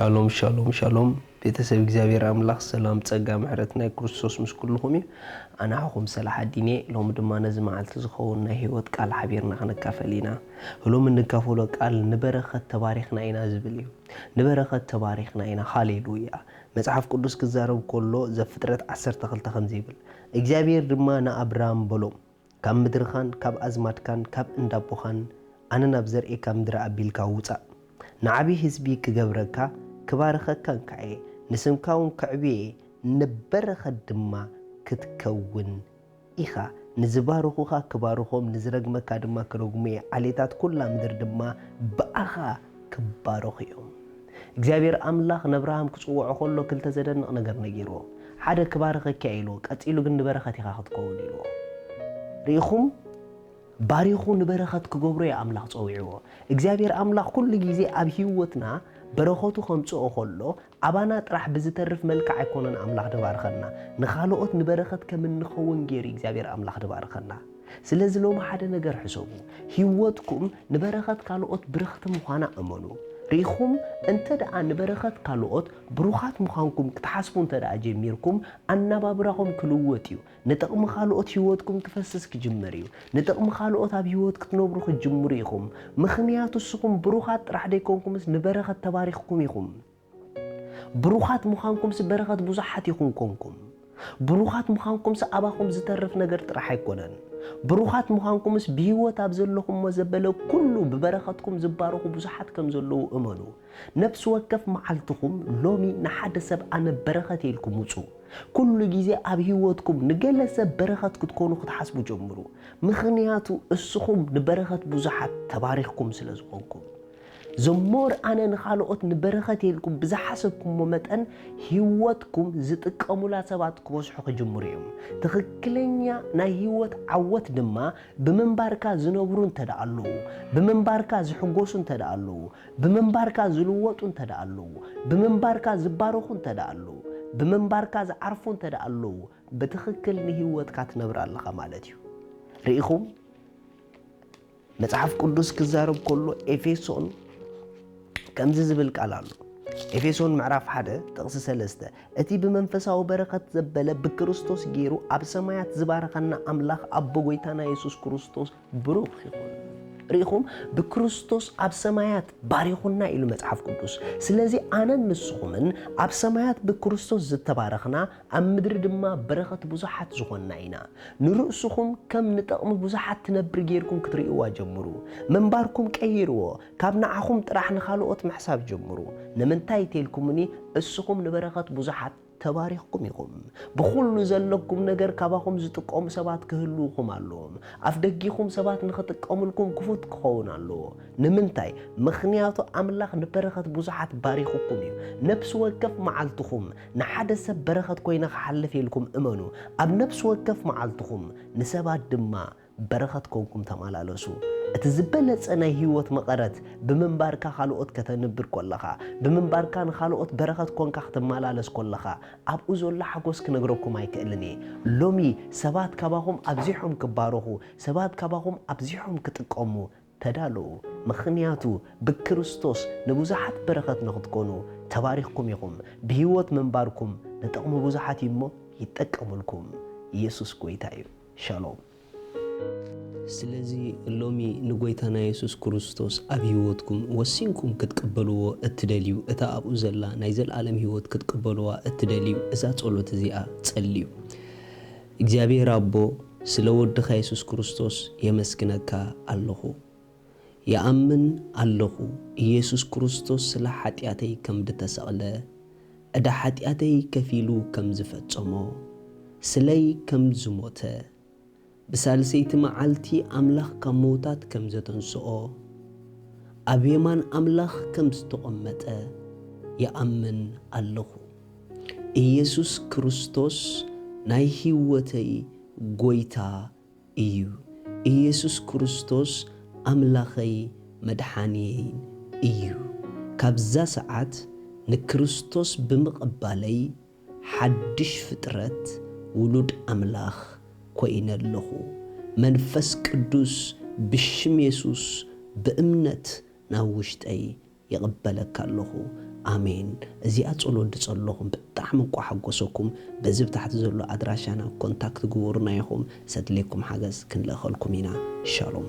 ሻሎም ሻሎም ሻሎም ቤተሰብ እግዚኣብሔር ኣምላኽ ሰላም ጸጋ ምሕረት ናይ ክርስቶስ ምስ ኩልኹም እዩ ኣናሕኹም ሰላሕ ኣዲኔ ሎሚ ድማ ነዚ መዓልቲ ዝኸውን ናይ ህይወት ቃል ሓቢርና ክንካፈል ኢና ህሎም እንካፈሎ ቃል ንበረኸት ተባሪኽና ኢና ዝብል እዩ ንበረኸት ተባሪኽና ኢና ሃሌሉያ መጽሓፍ ቅዱስ ክዛረብ ከሎ ዘፍጥረት ዓሰርተ ክልተ ከምዚ ይብል እግዚኣብሔር ድማ ንኣብራም በሎም ካብ ምድርኻን ካብ ኣዝማድካን ካብ እንዳቦኻን ኣነ ናብ ዘርእካ ምድሪ ኣቢልካ ውጻእ። ንዓቢ ህዝቢ ክገብረካ ክባርኸካን ከኣ'የ፣ ንስምካውን ከዕብዮ እየ፣ ንበረኸት ድማ ክትከውን ኢኻ። ንዝባርኹኻ ክባርኾም፣ ንዝረግመካ ድማ ክረግሙ እየ፣ ዓሌታት ኵላ ምድሪ ድማ ብኣኻ ክባረኹ እዮም። እግዚኣብሄር ኣምላኽ ነብርሃም ክጽውዖ ከሎ ክልተ ዘደንቕ ነገር ነጊርዎ። ሓደ ክባርኸኪ እያ ኢልዎ ቀጺሉ ግን ንበረኸት ኢኻ ክትከውን ኢልዎ። ርኢኹም ባሪኹ ንበረኸት ክገብሮ እዩ ኣምላኽ ጸዊዕዎ። እግዚኣብሄር ኣምላኽ ኩሉ ግዜ ኣብ ሂወትና በረኸቱ ከምጽኦ ከሎ ኣባና ጥራሕ ብዝተርፍ መልክዕ ኣይኮነን ኣምላኽ ድባርኸና። ንኻልኦት ንበረኸት ከም እንኸውን ጌሩ እዩ እግዚኣብሄር ኣምላኽ ድባርኸና። ስለዚ ሎሚ ሓደ ነገር ሕሰቡ፣ ህይወትኩም ንበረኸት ካልኦት ብርኽቲ ምዃና እመኑ። ርኢኹም፣ እንተድኣ ንበረኸት ካልኦት ብሩኻት ምዃንኩም ክትሓስቡ እንተድኣ ጀሚርኩም፣ ኣነባብራኹም ክልወጥ እዩ። ንጥቕሚ ካልኦት ህይወትኩም ክፈስስ ክጅምር እዩ። ንጥቕሚ ካልኦት ኣብ ህይወት ክትነብሩ ክትጅምሩ ኢኹም። ምኽንያቱ እስኹም ብሩኻት ጥራሕ ደይኮንኩምስ ንበረኸት ተባሪኽኩም ኢኹም። ብሩኻት ምዃንኩምሲ በረኸት ብዙሓት ኢኹም ኰንኩም። ብሩኻት ምዃንኩምሲ ኣባኹም ዚተርፍ ነገር ጥራሕ ኣይኰነን። ብሩኻት ምዃንኩምስ ብህይወት ኣብ ዘለኹሞ ዘበለ ኵሉ ብበረኸትኩም ዚባረኹ ብዙሓት ከም ዘለዉ እመኑ። ነፍሲ ወከፍ መዓልትኹም ሎሚ ንሓደ ሰብ ኣነ በረኸት እየ ኢልኩም ውጹ። ኵሉ ግዜ ኣብ ህይወትኩም ንገለ ሰብ በረኸት ክትኰኑ ክትሓስቡ ጀምሩ። ምኽንያቱ እስኹም ንበረኸት ብዙሓት ተባሪኽኩም ስለ ዝዀንኩም። ዘሞር ኣነ ንኻልኦት ንበረኸት እየ ኢልኩም ብዝሓሰብኩሞ መጠን ህይወትኩም ዝጥቀሙላ ሰባት ክበዝሑ ክጅምሩ እዮም። ትኽክለኛ ናይ ህይወት ዓወት ድማ ብምንባርካ ዝነብሩ እንተድኣ ኣለዉ፣ ብምንባርካ ዝሕጎሱ እንተድኣ ኣለዉ፣ ብምንባርካ ዝልወጡ እንተድኣ ኣለዉ፣ ብምንባርካ ዝባረኹ እንተድኣ ኣለዉ፣ ብምንባርካ ዝዓርፉ እንተድኣ ኣለዉ ብትኽክል ንህይወትካ ትነብራ ኣለኻ ማለት እዩ። ርኢኹም? መጽሓፍ ቅዱስ ክዛረብ ከሎ ኤፌሶን ከምዚ ዝብል ቃል ኣሎ ኤፌሶን ምዕራፍ ሓደ ጥቕሲ ሰለስተ እቲ ብመንፈሳዊ በረኸት ዘበለ ብክርስቶስ ገይሩ ኣብ ሰማያት ዝባረኸና ኣምላኽ ኣቦ ጎይታና የሱስ ክርስቶስ ብሩኽ ይኹን ርኢኹም ብክርስቶስ ኣብ ሰማያት ባሪኹና ኢሉ መጽሓፍ ቅዱስ ስለዚ ኣነን ንስኹምን ኣብ ሰማያት ብክርስቶስ ዝተባረኽና ኣብ ምድሪ ድማ በረኸት ብዙሓት ዝኾንና ኢና። ንርእስኹም ከም ንጠቕሚ ብዙሓት ትነብር ገይርኩም ክትርእይዋ ጀምሩ። ምንባርኩም ቀይርዎ። ካብ ንዓኹም ጥራሕ ንኻልኦት ምሕሳብ ጀምሩ። ንምንታይ እተልኩምኒ እስኹም ንበረኸት ብዙሓት ተባሪኽኩም ኢኹም። ብኹሉ ዘለኩም ነገር ካባኹም ዝጥቀሙ ሰባት ክህልዉኹም ኣለዎም። ኣፍደጊኹም ሰባት ንኽጥቀሙልኩም ክፉት ክኸውን ኣለዎ። ንምንታይ? ምኽንያቱ ኣምላኽ ንበረኸት ብዙሓት ባሪኹኩም እዩ። ነፍሲ ወከፍ መዓልትኹም ንሓደ ሰብ በረኸት ኮይነ ክሓልፍ ኢልኩም እመኑ፣ ኣብ ነፍሲ ወከፍ መዓልትኹም ንሰባት ድማ በረኸት ኮንኩም ተማላለሱ። እቲ ዝበለጸ ናይ ህይወት መቐረት ብምንባርካ ካልኦት ከተንብር ኮለኻ፣ ብምንባርካ ንኻልኦት በረኸት ኮንካ ክትመላለስ ኮለኻ ኣብኡ ዘሎ ሓጎስ ክነግረኩም ኣይክእልን እየ። ሎሚ ሰባት ካባኹም ኣብዚሖም ክባረኹ፣ ሰባት ካባኹም ኣብዚሖም ክጥቀሙ ተዳለዉ ምኽንያቱ ብክርስቶስ ንብዙሓት በረኸት ንኽትኮኑ ተባሪኽኩም ኢኹም ብህይወት ምንባርኩም ንጥቕሚ ብዙሓት እዩ እሞ ይጠቀምልኩም ኢየሱስ ጎይታ እዩ ሻሎም። ስለዚ ሎሚ ንጎይታና የሱስ ክርስቶስ ኣብ ህይወትኩም ወሲንኩም ክትቅበልዎ እትደልዩ እታ ኣብኡ ዘላ ናይ ዘልኣለም ህይወት ክትቅበልዋ እትደልዩ እዛ ጸሎት እዚኣ ጸልዩ። እግዚኣብሔር ኣቦ ስለ ወድኻ የሱስ ክርስቶስ የመስግነካ ኣለኹ ይኣምን ኣለኹ ኢየሱስ ክርስቶስ ስለ ሓጢኣተይ ከምድተሰቅለ ዕዳ ሓጢኣተይ ከፊሉ ከምዝፈጸሞ ስለይ ከምዝሞተ ብሳልሰይቲ መዓልቲ ኣምላኽ ካብ ምውታት ከምዘተንስኦ ኣብ የማን ኣምላኽ ከምዝተቀመጠ ይኣምን ኣለኹ። ኢየሱስ ክርስቶስ ናይ ሕይወተይ ጐይታ እዩ። ኢየሱስ ክርስቶስ ኣምላኸይ መድሓንየይን እዩ። ካብዛ ሰዓት ንክርስቶስ ብምቕባለይ ሓድሽ ፍጥረት ውሉድ ኣምላኽ ኮይነ ኣለኹ። መንፈስ ቅዱስ ብሽም የሱስ ብእምነት ናብ ውሽጠይ ይቅበለካ ኣለኹ ኣሜን እዚኣ ጸሎት ድጸለኹም ብጣዕሚ እኳ ሓጎሰኩም በዚ ብታሕቲ ዘሎ ኣድራሻና ኮንታክት ግበሩና ኢኹም ዘድልየኩም ሓገዝ ክንልእኸልኩም ኢና ሻሎም።